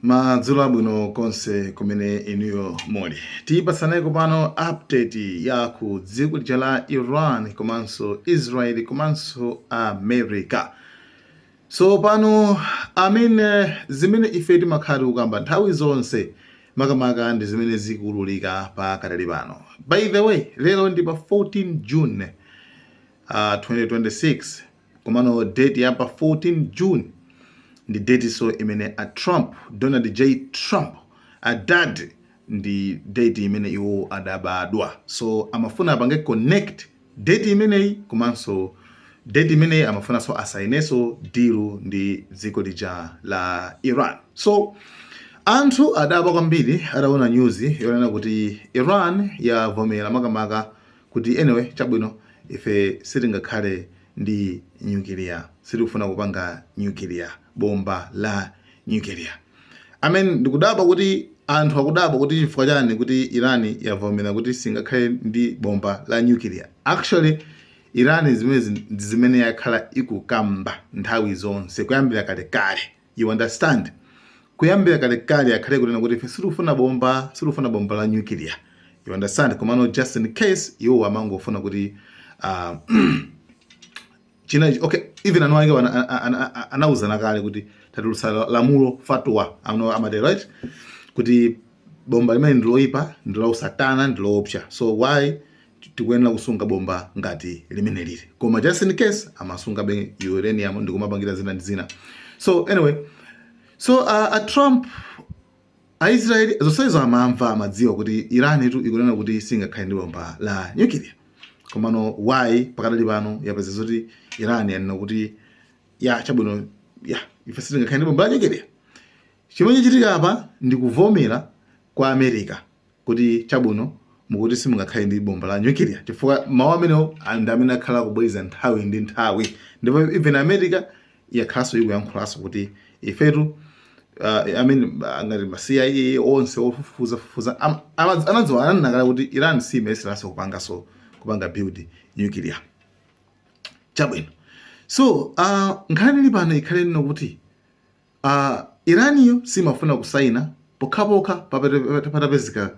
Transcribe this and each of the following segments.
madzulo abwino konse kumene inuyo muli tipasaneko pano update ya ku dziko lija la iran komanso israeli komanso america so pano amene zimene ife timakhala tikukamba nthawi zonse makamaka ndi zimene zikuululika pa katali pano by the way lero ndi pa 14 june uh, 2026 komano date ya pa 14 june ndi date so imene a trump donald j trump adad ndi date imene iwo adabadwa so amafuna apange connect date imeneyi komanso date imeneyi amafunanso asainenso dilu ndi dziko lija la iran so anthu adadabwa kwambiri ataona nyuzi yonena kuti iran yavomera makamaka kuti anyway chabwino ife sitingakhale ndi nyukiliya sitikufuna kupanga nyukiliya bomba la nyukiliya i mean ndikudabwa kuti anthu akudabwa kuti chifukwa chani kuti iran yavomera kuti singakhale ndi bomba la nyukiliya actually iran zimene ndi zimene yakhala ikukamba nthawi zonse kuyambira kalekale You understand? Kuyambira kalekale yakhala ikunena kuti ife sitikufuna bomba, sitikufuna bomba la nuclear. You understand? Komano just in case iwo amangofuna kuti uh, china okay even anu ake anauzana kale kuti tatulutsa lamulo fatwa ano amati right kuti bomba limeneli ndiloipa ndilausatana ndiloopsa so why tikuyenera kusunga bomba ngati limeneli koma just in case amasungabe uranium ndikumapangira zina ndi zina so anyway so uh, a trump aisraeli zonsezo amamva amadziwa kuti iran tu ikunena kuti singakhale ndi bomba la nyukiliya komano why pakadali pano yapeza zoti iran yanena kuti ya chabwino ya ife sitingakhale ndi bomba la nyukiliya chimene chachitika apa ndi kuvomera kwa america kuti chabwino mukuti simungakhale ndi bomba la nyukiliya chifukwa mawu amenewo a- ndi amene akhala akubwereza nthawi ndi nthawi ndipo even america yakhalanso ikuyankhulanso kuti ifetu uh, I mean, uh, ngati ma cia onse ofufuza fufuza am- ama- anadziwa ananena kale kuti iran simayeseranso kupanganso kupanga build nyukiliya chabwino so uh, nkhani ili pano ikhale ino kuti Iraniyo simafuna kusaina pokhapokha patapezeka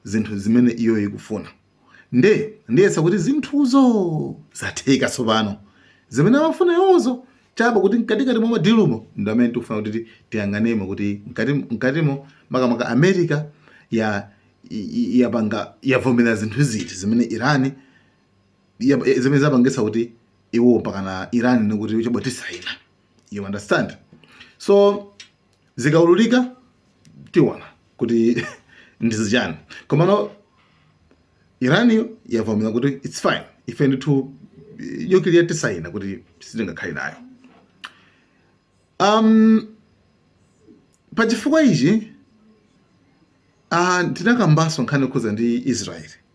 zinthu zimene iyoyo ikufuna nde ndiyesa kuti zinthuzo zatheka tsopano zimene amafuna iwozo chabe kuti mkatikati mwa madilumo ndi amene tikufuna kuti tiyang'anemo kuti mkatimo makamaka america ya yapanga yavomera zinthu ziti zimene irani zimene zapangitsa kuti iwo mpakana irani nikuti chabwino tisaina you understand so zikaululika tiona kuti ndizichani komano iran yavomera kuti its fine ife ndithu nyukiliya tisaina kuti sitingakhale nayo um, pa chifukwa ichi uh, tinakambanso nkhani yokhuza ndi israeli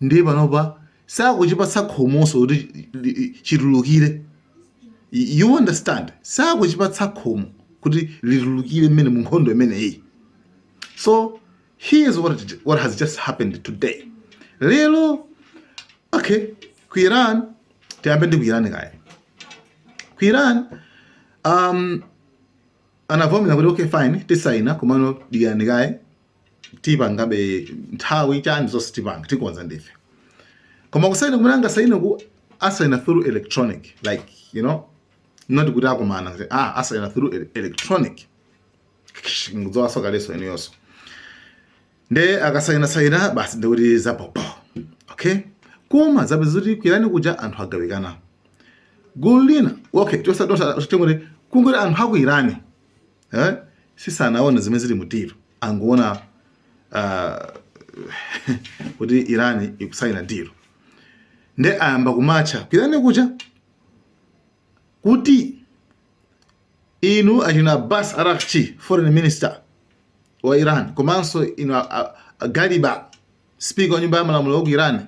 ndiye panopa sakuchipatsa khomonso kuti chitulukire you understand sakuchipatsa khomo kuti chitulukire mmene mu nkhondo imeneyi so here's what, what has just happened today lero okay ku iran tiyambe ndi ku iran kaye ku iran um, anavomera kuti okay fine tisaina komano dikirani kaye tipangabe nthawi chani zonse tipanga tikonza ndife koma kusaina kumene angasaineku asaina through electronic like you know not kuti akumana kuti ah asaina through ele- electronic nkudzoonanso kalenso eneyonso nde akasaina saina basi ndikuti zapopo okay koma zapeza kuti ku irani kuja anthu agawikana gulu lina okay tosadosa tingoti kungoti anthu aku irani eh? si sanaone zimene zili mu deal angoona uh, kuti irani ikusaina deal nde ayamba kumatcha ku irani kuja kuti inu achina Abbas Araghchi foreign minister wa Iran komanso inu Galiba speaker wa nyumba ya malamulo wa ku Iran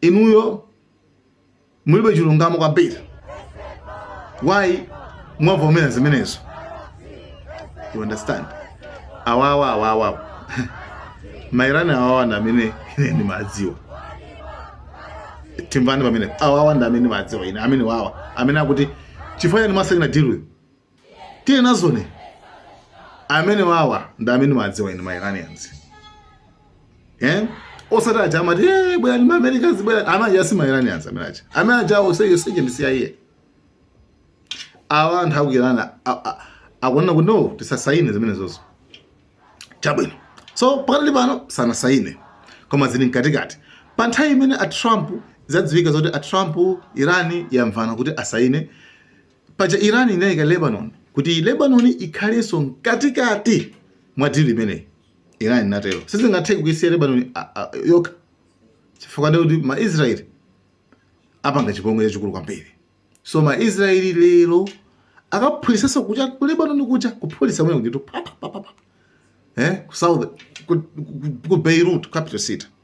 inuyo mulibe chilungamo kwambiri why mwavomera zimenezo you understand awawa awawa mairani awawa ndi amene ine ndimadziwa timvani pamene awawa ndi amene ndimadziwa ine amene awawa amene akuti chifukwa chani mwasaina deal with tiye nazoni amene awawa ndi amene ndimadziwa ine mairanians eh osati aja amati eh bwera ndi americans bwera amene aja si mairanians amene aja amene aja onse aja ndi CIA awa anthu aku irani akunena kuti no tisasayine zimenezozo chabwino so pakati pano sanasayine koma zili mkatikati pa nthawi imene a trump zadziwika zoti a trump irani yamvana kuti asayine Paja Iran inaika Lebanon kuti Lebanon ikhalenso mkatikati mwa deal imeneyi. Iran inatero. Sizingatheke kuisiya Lebanon a- a- yokha. Chifukwa ndiye kuti ma Israel apanga chipongwe chachikulu kwambiri. So ma Israel lero akaphulitsanso kuja ku Lebanon kuja kuphulitsa mwina kuti pa pa pa pa. Eh, ku South ku, ku, ku Beirut capital city.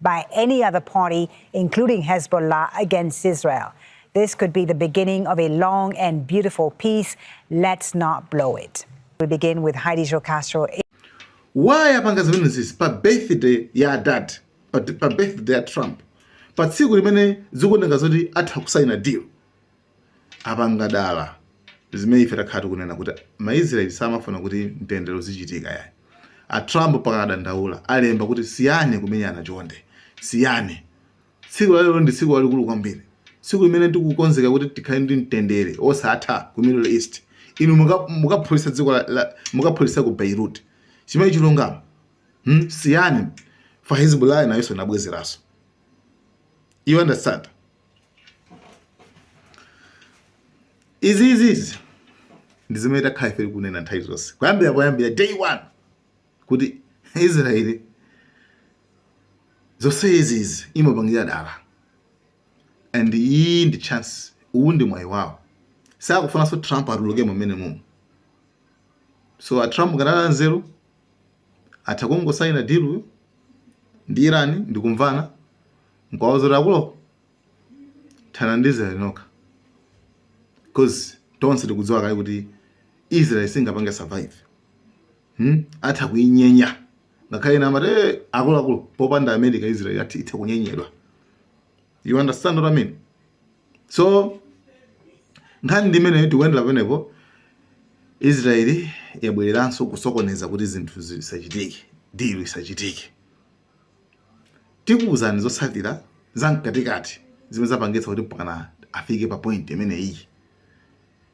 by any other party, including Hezbollah, against Israel. This could be the beginning of a long and beautiful peace. Let's not blow it. We begin with Heidi Jocastro. Why apanga zimene zizi pa birthday ya dad pa, pa birthday ya Trump pa tsiku limene zikuoneka zoti atha kusaina deal apanga dala zimene ife takhala tikunena kuti ma Israel samafuna kuti mtendere uzichitika yayi. A Trump pakana dandaula alemba kuti siyani kumenyana chonde. Siyani. Tsiku la lero ndi tsiku lalikulu kwambiri. Tsiku limene tikukonzeka kuti tikhale ndi mtendere osatha ku Middle East. Inu mukaphulisa dziko la, la mukaphulisa ku Beirut. Chimene chilungamo. Hmm? Siyani. Fa Hezbollah nayo inabwezeranso. You understand? izizizi ndi zimene takhala ife tikunena nthawi zonse kuyambira poyambira day one kuti israeli zonse izizi imapangira dala and iyi ndi chance uwu ndi mwayi wawo sakufunanso trump atuluke mumene mumu so a trump akanakhala nzeru atha kungosaina deal yo ndi Iran ndikumvana nkuwauza kuti akulu thandizanani nokha coz tonse tikudziwa kale kuti Israel singapange survive hmm? atha kuinyenya ngakhale ena amati akuluakulu popanda America Israel athi itha kunyenyedwa you understand what i mean so nkhani ndi imene tikuyendera pamenepo israeli yabwereranso kusokoneza kuti zinthu zisachitike dilo isachitike tikuwuzani zotsalira za mkatikati zimene zapangitsa kuti mpakana afike pa point imene iyi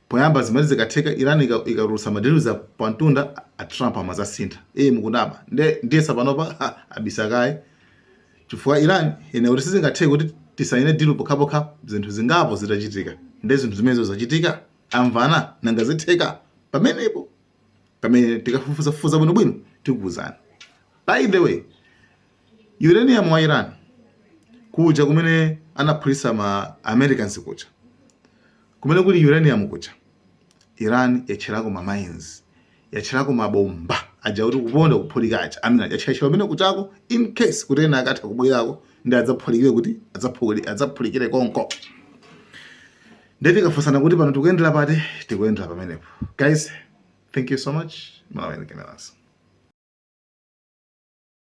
Poyamba zimati zikatheka Iran ikatulutsa ma deal za pa mtunda a Trump amazasintha ee mukunama nde ndiyesa panopa ha abisa kaye chifukwa Iran inanena kuti sizingatheke kuti tisayine deal pokhapokha zinthu zingapo zitachitika nde zinthu zimenezo zachitika? Amvana? Nanga zitheka? Pamenepo pamene tikafufuzafufuza bwinobwino tikuuzani. By the way, Uranium wa Iran kuja kumene anaphulitsa ma Americans kuja. Kumene kuli uranium kuja. Iran yatcherako ma mines. Yatcherako ma bomba aja kuti kuponda kuphulika aja. Amene yatchera kumene kujako in case kuti ena akatha kubwerako ndi adzaphulikire kuti adzaphuli adzaphulikire konko. Nde tikafunsana kuti pano tikuyendera pati tikuyendera pamenepo. Guys, thank you so much. Malawi Cameras.